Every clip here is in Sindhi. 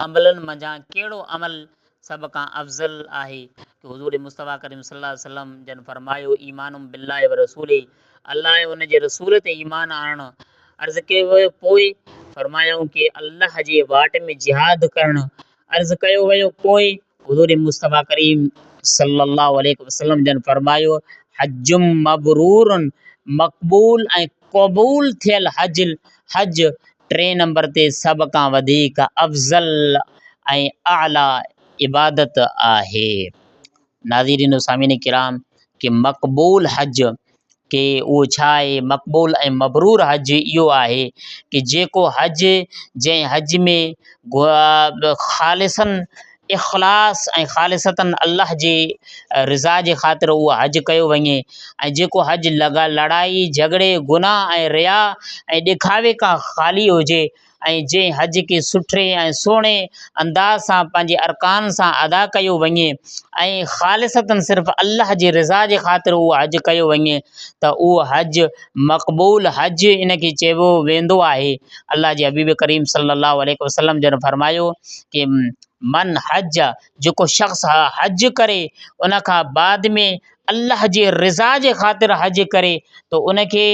عملن منجهان ڪهڙو عمل سڀ کان افضل آهي ته حضور مصطفيٰ ڪريم صلّي اللّٰه عليه وسلّم جن فرمايو، ايمان باللّٰه ورسوله، الله ۽ ان جي رسول تي ايمان آڻڻ. عرض ڪيو ويو پوء؟ فرمايائون ڪي الله جي واٽ ۾ جهاد ڪرڻ. عرض ڪيو ويو پوء؟ حضور مصطفيٰ ڪريم صلّي اللّٰه عليه وسلّم جن فرمايو، حج مبرور، مقبول ۽ قبول ٿيل حج، حج ٽئين نمبر تي سڀ کان وڌيڪ افضل ۽ اعليٰ عبادت آهي. ناظرين و سامعين ڪرام! ڪي مقبول حج ڪي اهو ڇا آهي مقبول ۽ مبرور حج اهو آهي ڪي جيڪو حج جنهن حج ۾ خالصاً اخلاص ۽ خالصتاً الله جي رضا جي خاطر اهو حج ڪيو وڃي ۽ جيڪو حج لڳا لڙائي جهڳڙي گناه ۽ ريا ۽ ڏکاوي کان خالي هجي ۽ جنهن حج کي سٺي ۽ سهڻي انداز سان پنهنجي ارڪان سان ادا ڪيو وڃي ۽ خالصتاً صرف الله جي رضا جي خاطر اهو حج ڪيو وڃي ته اهو حج مقبول حج ان کي چئبو ويندو آهي الله جي حبيب ڪريم صلّي الله عليه وسلّم جن فرمايو ڪي من حج جيڪو شخص حج ڪري ان کان بعد ۾ الله جي رضا جي خاطر حج ڪري ته ان کي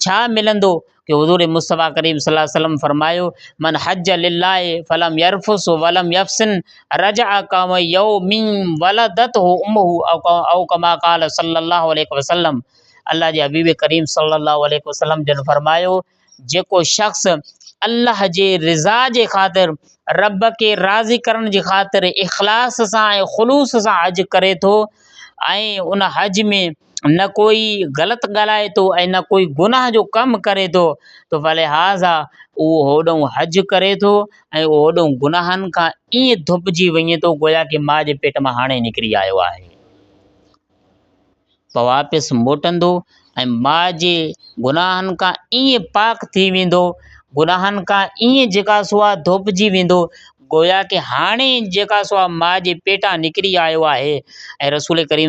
ڇا ملندو ته حضور مصطفٰي ڪريم صلي الله عليه وسلم فرمايو من حج لله فلم يرفث ولم يفسن رجع ڪم يوم ولدته امه او ڪما قال صلي الله عليه وسلم الله جي حبيب ڪريم صلي الله عليه وسلم جن فرمايو جيڪو شخص الله جي رضا جي خاطر رب کي راضي ڪرڻ جي خاطر اخلاص سان ۽ خلوص سان حج ڪري ٿو ۽ ان حج ۾ نه ڪوئي غلط ڳالهائي ٿو ۽ نه ڪوئي گناهه جو ڪم ڪري ٿو تو فلهٰذا اهو هوڏئون حج ڪري ٿو ۽ اهو هوڏئون گناهن کان ائين ڌوپجي وڃي ٿو گويا ڪي ماء جي پيٽ مان هاڻي نڪري آيو آهي. پوء واپس موٽندو ۽ ماء جي گناهن کان ائين پاڪ ٿي ويندو، گناهن کان ائين جيڪا سو آهي ڌوپجي ويندو گويا ڪي هاڻي جيڪا سو آهي ماء جي پيٽان نڪري آيو آهي ۽ رسول ڪريم صلي الله عليه وسلم.